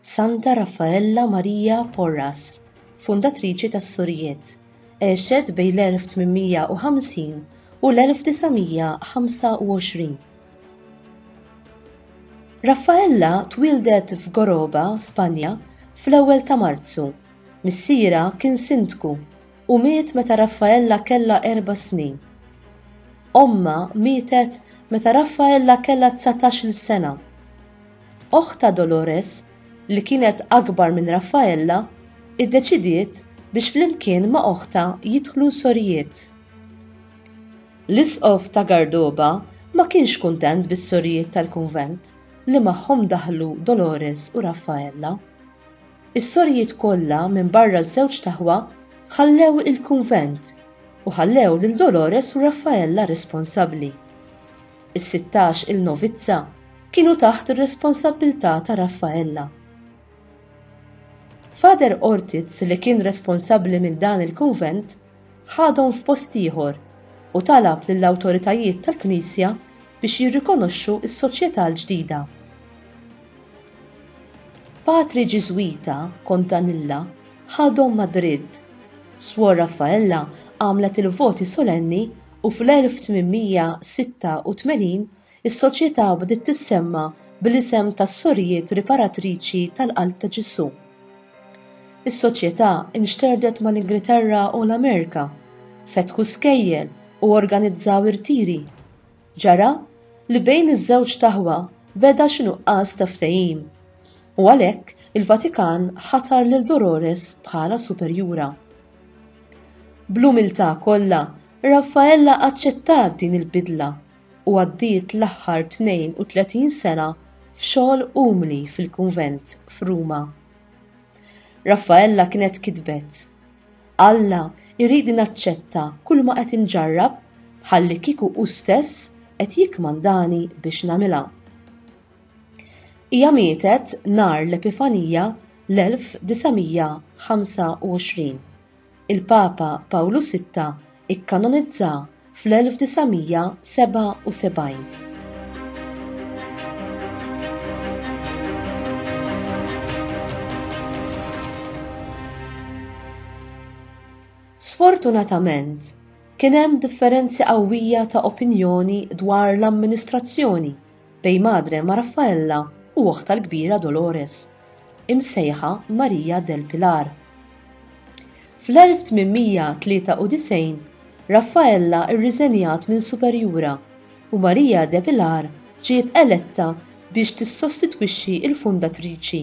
Santa Raffaella Maria Porras, fundatriċi tas-Surijiet, għexet bejn l-1850 u l-1925. Raffaella twieldet f'Goroba, Spanja, fl-ewwel ta' Marzu. Missierha kien sindku u miet meta Raffaella kellha erba' snin. Ommha mietet meta Raffaella kellha dsatax-il sena. Oħt ta' Dolores, li kienet akbar minn Raffaella, iddeċidiet biex flimkien ma' oħtha jidħlu sorijiet. L-Isqof ta' Gardoba ma kienx kuntent bis-sorijiet tal-kunvent li magħhom daħlu Dolores u Raffaella. Is-sorijiet kollha minbarra ż-żewġt aħwa ħallew il-kunvent u ħallew lil Dolores u Raffaella responsabbli. Is-sittax il novizza kienu taħt ir-responsabbiltà ta' Raffaella. Father Ortiz li kien responsabbli minn dan il-kunvent ħadhom f'post ieħor u talab lill-awtoritajiet tal-Knisja biex jirrikonoxxu s-soċjetà l-ġdida. Patri Ġiżwita Contanilla ħadhom Madrid. Swor Raffaella għamlet il-voti solenni u fl-1886 is-Soċjetà bdiet tissemma bl-isem tas-Sorijiet Riparatriċi tal-Qalb ta' Ġesù. Is-Soċjetà nxterdet mal-Ingilterra u l-Amerika, fetħu skejjel u organizzaw irtiri. Ġara li bejn iż-żewġ taħwa beda xi nuqqas ta' ftehim, u għalhekk il-Vatikan ħatar lil Dolores bħala superjura. Bl-umiltà kollha, Raffaella aċċettat din il-bidla u għaddiet l-aħħar 32 sena f'xogħol umli fil-kunvent f'Ruma. Raffaella kienet kitbet, Alla jridni naċċetta kulma qed inġarrab bħallikieku hu stess qed jikkmandani biex nagħmilha. Hija mietet nhar l-Epifanija l-1925. Il-Papa Pawlu Sitta ikkanonizzaha fl-1977. Sfortunatament, kien hemm differenzi qawwija ta' opinjoni dwar l-amministrazzjoni Dei Madre ma' Raffaella u oħtha l-kbira Dolores, imsejħa Maria del Pilar. Fl-1893 Raffaella rriżenjat minn superjura u Maria de Pilar ġiet eletta biex tissostitwixxi l-fundatriċi.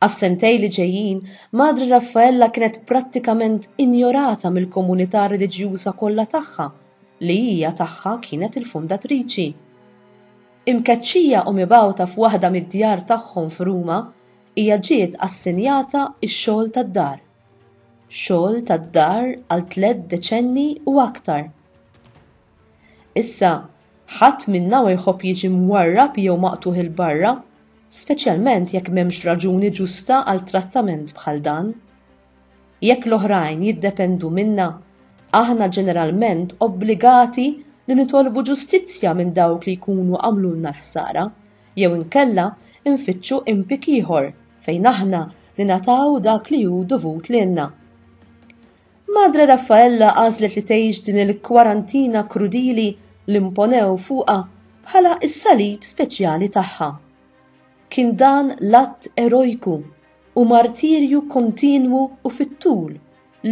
Għas-sentejn li ġejjin, Madre Raffaella kienet prattikament injorata mill-komunità reliġjuża kollha tagħha, li hija tagħha kienet il-fundatriċi. Imkeċċija u mibgħuta f'waħda mid-djar tagħhom f'Ruma, hija ġiet assenjata x-xogħol tad-dar. Xogħol tad-dar għal tliet deċenni u aktar. Issa, ħadd minna ma jħobb jiġi mwarrab jew maqtugħ 'il barra, speċjalment jekk m'hemmx raġuni ġusta għal trattament bħal dan. Jekk l-oħrajn jiddependu minna, aħna ġeneralment obbligati li nitolbu ġustizzja minn dawk li jkunu għamlulna l-ħsara, jew inkella nfittxu impik ieħor fejn aħna ningħataw dak li hu dovut lilna. Madre Raffaella għażlet li tgħix din il-kwarantina krudili li mponew fuqha bħala s-salib speċjali tagħha. Kien dan l-att erojku u martirju kontinwu u fit-tul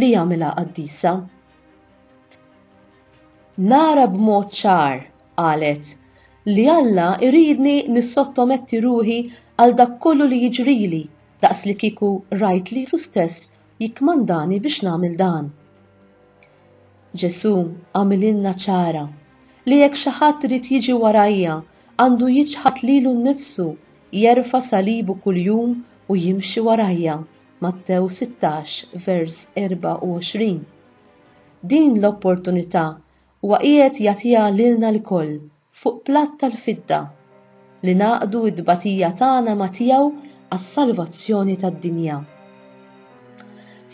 li jagħmilha qaddisa. Nara b'mod ċar, qalet, li Alla jridni nissottometti ruħi għal dak kollu li jiġrili daqs li kieku rajt lilu stess jikkmandani biex nagħmel dan. Ġesù għamililna ċara li jekk xi ħadd irid jiġi warajja għandu jiċħad lilu nnifsu, jerfa' salibu kuljum u jimxi warajja, Mattew 16, vers 24. Din l-opportunità Huwa qiegħed jagħtiha lilna lkoll fuq platt tal-fidda, li ngħaqqdu t-tbatija tagħna ma' tiegħu għas-salvazzjoni tad-dinja.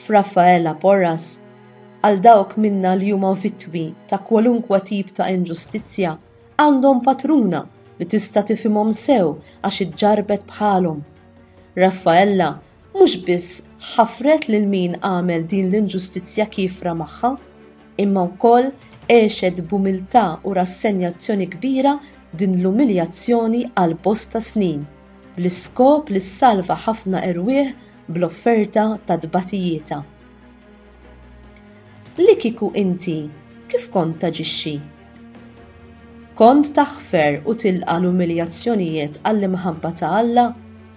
F'Raffaella Porras, għal dawk minna li huma vittmi ta' kwalunkwe tip ta' inġustizzja, għandhom patruna li tista' tifhimhom sew għax iġġarrbet bħalhom. Raffaella mhux biss ħafret lil min għamel din l-inġustizzja kiefra magħha, imma wkoll għexet b'umiltà u rassenjazzjoni kbira din l-umiljazzjoni għal bosta snin, bl-iskop li ssalva ħafna erwieħ bl-offerta ta' tbatijietha. Li kieku inti, kif kont taġixxi? Kont taħfer u tilqa' l-umiljazzjonijiet għall-imħabba ta' Alla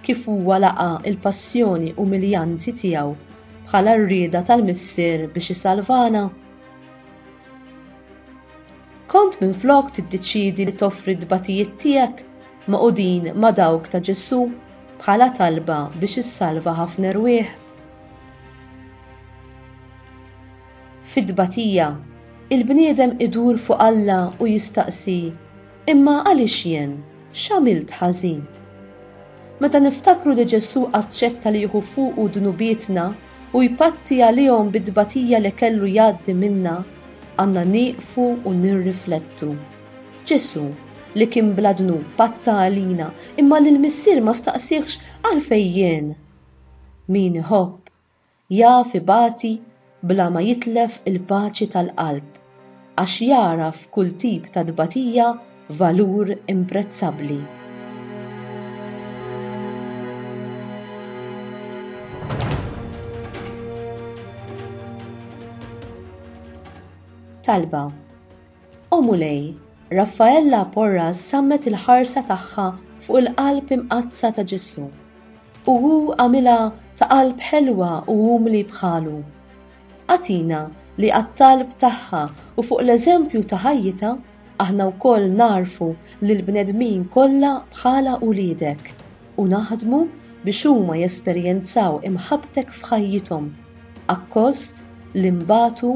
kif huwa laqa' l-passjoni umiljanti tiegħu bħala r-rieda tal-Missier biex isalvana? Kont minflok tiddeċiedi li toffri t-tbatijiet tiegħek magħqudin ma' dawk ta' Ġesù bħala talba biex issalva ħafna erwieħ? Fit-tbatija, il-bniedem idur fuq Alla u jistaqsi, Imma għaliex jien? X'għamilt ħażin? Meta niftakru li Ġesù aċċetta li jieħu fuqu dnubietna u jpatti għalihom bit-tbatija li kellu jgħaddi minnha, għandna nieqfu u nirriflettu. Ġesù, li kien bla dnub, patta għalina, imma lill-Missier ma staqsiehx, Għalfejn jien? Min iħobb, Jaf ibati bla ma jitlef il-paċi tal-qalb għax jagħraf f'kull tip ta' tbatija valur imprezzabbli. Talba, O Mulej, Raffaella Porras sammet il-ħarsa tagħha fuq il-Qalb Imqaddsa ta' Ġesù, u hu għamilha ta' qalb ħelwa u umli bħalu. Agħtina li għat-talb tagħha u fuq l-eżempju ta' ħajjitha, aħna wkoll nagħrfu lill-bnedmin kollha bħala uliedek, u naħdmu biex huma jesperjenzaw imħabbtek f'ħajjithom, akkost li nbatu